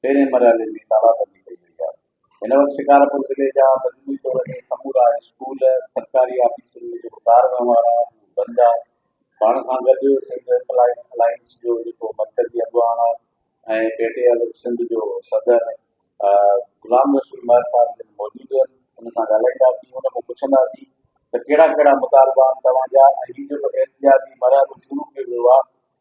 پهرين مرحلي ۾ تالابندي ڪئي وئي آهي، هن وقت شڪارپور ضلعي جا مجموعي طور تي سمورا اسڪول، سرڪاري آفيسن ۾ جيڪو ڪار وهنوار آهي اهو بند آهي، پاڻ سان گڏ سنڌ ايمپلائيز الائنس جو جيڪو مرڪزي اڳواڻ آهي ۽ پيٽي ايل سنڌ جو صدر غلام رسول مهر صاحب جن موجود آهن ان سان ڳالهائينداسين ان کان پڇنداسين ته ڪهڙا ڪهڙا مطالبا آهن توهان جا ۽ هي جيڪو احتجاجي مرحلو شروع ڪيو ويو آهي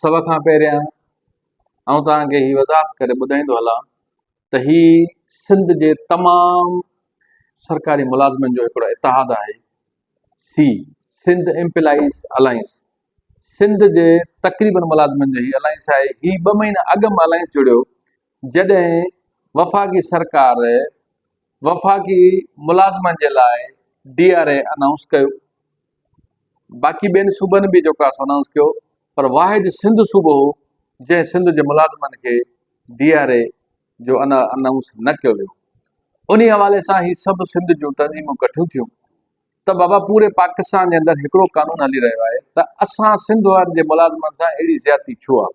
سڀ کان پهريان آئون توهان کي هي وضاحت ڪري ٻڌائيندو هلان ته هي سنڌ جي تمام سرڪاري ملازمن جو هڪڙو اتحاد آهي سي سنڌ امپلائيز الائنس سنڌ جي تقريبن ملازمن جو هي الائنس آهي هي ٻه مهينا اڳ مان الائنس جڙيو جڏهن وفاقي سرڪار وفاقي ملازمن جي لاء ڊي آر اي انائونس ڪيو باقي ٻين صوبن به جيڪو آهي انائونس ڪيو پر واحد سنڌ صوبو هو جنهن سنڌ جي ملازمن کي ڊي آر اي جو ان انائونس نه ڪيو ويو ان حوالي سان هي سڀ سنڌ جون تنظيمون ڪٺيون ٿيون ته بابا پوري پاڪستان جي اندر هڪڙو قانون هلي رهيو آهي ته اسان سنڌ وارن جي ملازمن سان اهڙي زيادتي ڇو آهي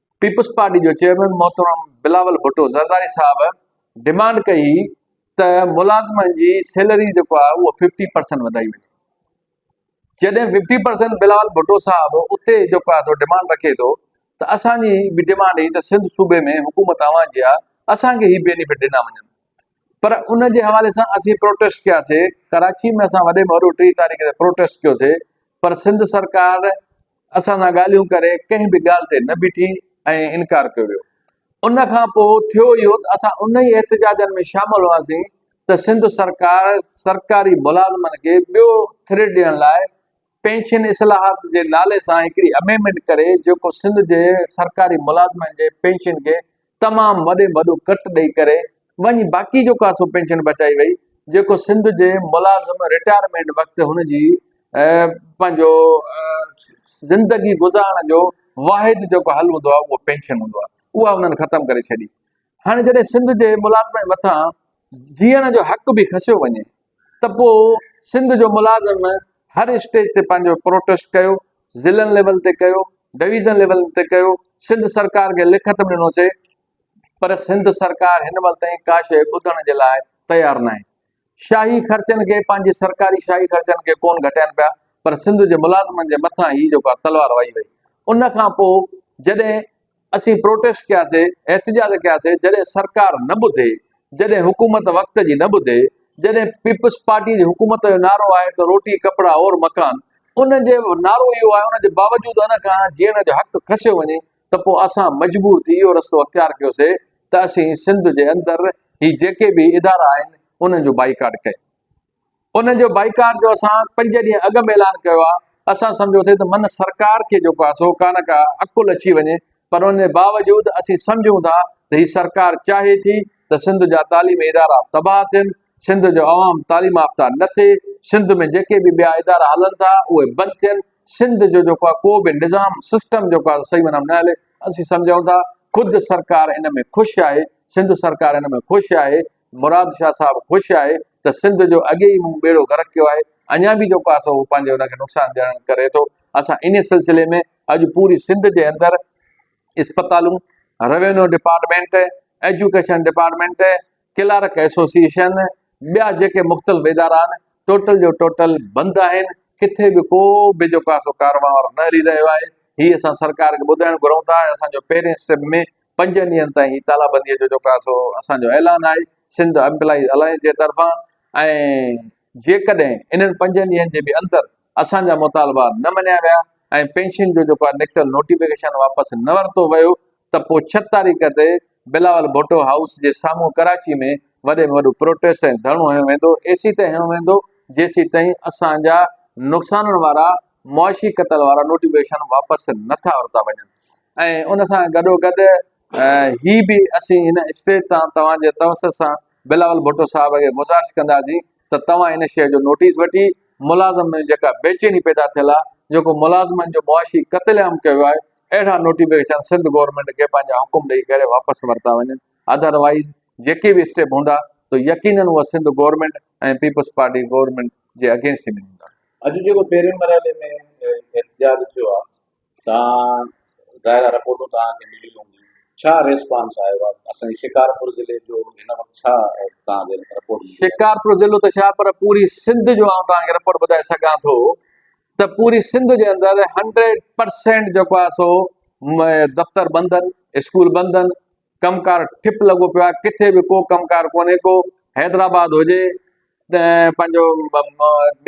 پيپلز پارٽي جو چيئرمين محترم بلاول ڀٽو زرداري صاحب ڊمانڊ ڪئي هئي ته ملازمن جي سيلري جيڪو آهي اهو ففٽي پرسنٽ وڌائي وڃي جڏهن ففٽي پرسنٽ بلاول ڀٽو صاحب اتي جيڪو آهي سو ڊيمانڊ رکي ٿو ته اسان جي به ڊيمانڊ هي ته سنڌ صوبي ۾ حڪومت اوهان جي آهي اسانکي هي بينيفٽ ڏنا وڃن پر ان جي حوالي سان اسين پروٽيسٽ ڪياسي ڪراچي ۾ اسان وڏي ۾ وڏو ٽي تاريخ تي پروٽيسٽ ڪيوسي پر سنڌ سرڪار اسان سان ڳالهيون ڪري ڪنهن به ڳالهه تي نه بيٺي ۽ انڪار ڪيو ويو. ان کان پوء ٿيو اهو ته اسان انهي احتجاجن ۾ شامل هئاسين ته سنڌ سرڪار سرڪاري ملازمن کي ٻيو ٿري ڏيڻ لاء پينشن اصلاحات جي نالي سان هڪڙي اميمنڊ ڪري جيڪو سنڌ جي سرڪاري ملازمن جي پينشن کي تمام وڏي ۾ وڏو ڪٽ ڏئي ڪري وڃي باقي جو ڪا سو پينشن بچائي وئي جيڪو سنڌ جي ملازم رٽائرمينٽ وقت هن جي پنهنجو زندگي گذارڻ جو واحد جيڪو حل هوندو آهي اهو پينشن هوندو آهي اها هنن ختم ڪري ڇڏي هاڻي جڏهن سنڌ جي ملازم مٿان جيئڻ جو حق به کسيو وڃي ته پوء سنڌ جو ملازم هر اسٽيج تي پنهنجو پروٽيسٽ ڪيو، ضلعن ليول تي ڪيو، ڊويزن ليول تي ڪيو، سنڌ سرڪار کي لکت به ڏنو سي پر سنڌ سرڪار هن مهل تائين ڪا شيء ٻڌڻ جي لاء تيار ناهي. شاهي خرچن کي پنهنجي سرڪاري شاهي خرچن کي ڪون گهٽائين پيا پر سنڌ جي ملازمن جي مٿان هي جيڪا تلوار وهي وئي ان کان پوء جڏهن اسين پروٽيسٽ ڪياسي، احتجاج ڪياسي، جڏهن سرڪار نه ٻڌي، جڏهن حڪومت وقت جي نه ٻڌي، جڏهن پيپلز پارٽي جي حڪومت جو نعرو آهي ته روٽي، ڪپڙا اور مڪان ان جي نعرو اهو آهي ان جي باوجود ان کان جيئڻ جو حق کسيو وڃي ته پوء اسان مجبور ٿي اهو رستو اختيار ڪيوسي ته اسين سنڌ جي اندر هي جيڪي به ادارا آهن انهن جو بائيڪاٽ ڪيون. انهن جو بائيڪاٽ جو اسان پنج ڏينهن اڳ ۾ اعلان ڪيو آهي، اسان سمجهيو ٿي ته من سرڪار کي جيڪو آهي سو ڪانه ڪا عقل اچي وڃي پر ان جي باوجود اسين سمجهون ٿا ته هي سرڪار چاهي ٿي ته سنڌ جا تعليمي ادارا تباهه ٿين، سنڌ جو عوام تعليم يافته نه ٿئي، سنڌ ۾ جيڪي به ٻيا ادارا هلن ٿا اهي بند ٿين، سنڌ جو جيڪو آهي ڪو به نظام سسٽم جيڪو آهي صحيح معنيٰ ۾ نه هلي، اسين سمجهون ٿا خود سرڪار ان ۾ خوش آهي، سنڌ سرڪار ان ۾ خوش آهي مراد شاهه صاحب خوش آهي ته سنڌ جو اڳي ئي مون ٻيڙو غرق ڪيو آهي، اڃا به جو پاسو هو پنهنجي ان کي نقصان ڏيڻ ڪري ٿو، اسان انهي سلسلي ۾ اڄ پوري سنڌ جي اندر اسپتالون، revenue department, education department, clerk association, ٻيا جيڪي مختلف ادارا آهن، ٽوٽل جو ٽوٽل بند آهن، ڪٿي به ڪو به جو پاسو ڪارونهار نه هلي رهيو آهي، هي اسان سرڪار کي ٻڌائڻ گهرون ٿا ۽ اسان جو پهرين اسٽيپ ۾ پنجن ڏينهن تائين هي تالابنديء جو جيڪو آهي سو اسان جو اعلان آهي سنڌ امپلائيز الائنس جي طرفان ۽ جيڪڏهن انهن پنجن ڏينهن جي به اندر اسان جا مطالبا نه مڃيا ويا ۽ پينشن جو جيڪو آهي نڪتل نوٽيفڪيشن واپس نه ورتو ويو ته پوء ڇهه تاريخ تي بلاول ڀٽو هائوس جي سامهون ڪراچي ۾ وڏي ۾ وڏو پروٽيسٽ ۽ ڌرڻو هنيو ويندو ايسي تائين هنيو ويندو جيسي تائين اسان جا نقصانن وارا معاشي قتل وارا نوٽيفڪيشن واپس نه ٿا ورتا وڃن ۽ ان سان گڏوگڏ هي به اسين هن اسٽيج تان توهان جي توسط سان بلاول ڀٽو صاحب کي گذارش ڪنداسين ته توهان ان شيء جو نوٽيس وٺي ملازمن ۾ جيڪا بيچيني پيدا ٿيل آهي جيڪو ملازمن جو معاشي قتل عام ڪيو ويو آهي اهڙا نوٽيفڪيشن سنڌ گورنمينٽ کي پنهنجا حڪم ڏئي ڪري واپس ورتا وڃن اڌر وائيز جيڪي به اسٽيپ هوندا ته يقينن اهي Sindh government ۽ peoples party government جي اگينسٽ ۾ هوندا اڄ جيڪو پهرين مرحلي ۾ احتجاج ٿيو آهي تان دائره رپورٽون توهان کي ملي هوندي ڇا ريسپانس آيو آهي اسان جي شڪارپور ضلعي جو هن وقت ڇا توهان کي رپورٽ ملي آهي. شڪارپور ضلعو ته ڇا پر پوري سنڌ جو آئون توهان کي رپورٽ ٻڌائي سگهان ٿو ته پوري سنڌ جي اندر هنڊريڊ پرسينٽ جيڪو آهي سو دفتر بند آهن اسڪول بند آهن ڪم ڪار ٺپ لڳو پيو آهي، ڪٿي به ڪو ڪم ڪار ڪونهي ڪو، حيدرآباد هجي، پنهنجو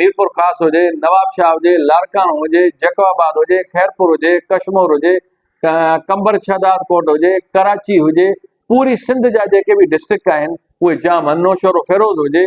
ميرپورخاص هجي، نوابشاهه هجي، لاڙڪاڻو هجي، جيڪب آباد هجي، خيرپور هجي، ڪشمور هجي، قمبر شهداد ڪوٽ هجي، ڪراچي هجي، پوري سنڌ جا جيڪي به ڊسٽرڪٽ آهن اهي جام آهن، نوشهرو فيروز هجي،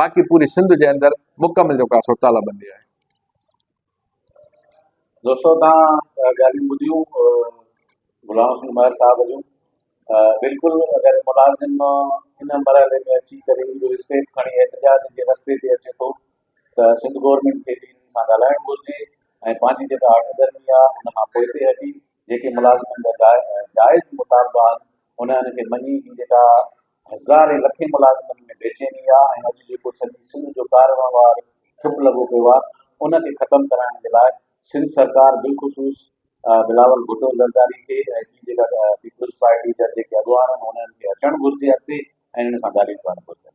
باقي پوري سنڌ جي اندر مڪمل جو ڪا سو تالا بندي آهي. دوستو تان ڳالهيون ٻڌيون غلام حسين مهر صاحب جون بلڪل اگر ملازم ان مرحلي ۾ اچي ڪري جو اسٽيپ کڻي احتجاج جي رستي تي اچي ٿو ته سنڌ گورنمينٽ کي به ان سان ڳالهائڻ گهرجي ۽ پنهنجي جيڪا هڪ ڌرمي آهي ان کان پوئتي هٽي جيڪي ملازمن جا جا جائز مطالبا آهن انهن کي مڃي هي جيڪا هزارين لکين ملازمن ۾ بيچيني آ ۽ اڄ جيڪو سڄي سنڌ جو ڪارون وار ٺپ لڳو پيو آ ان کي ختم ڪرائڻ جي لاء سنڌ سرڪار بالخصوص بلاول ڀٽو زرداري کي ۽ هي جيڪا پيپلز پارٽي جا جيڪي اڳواڻ آهن انهن کي اچڻ گهرجي اڳتي ۽ انهن سان ڳالهيون ڪرڻ گهرجن.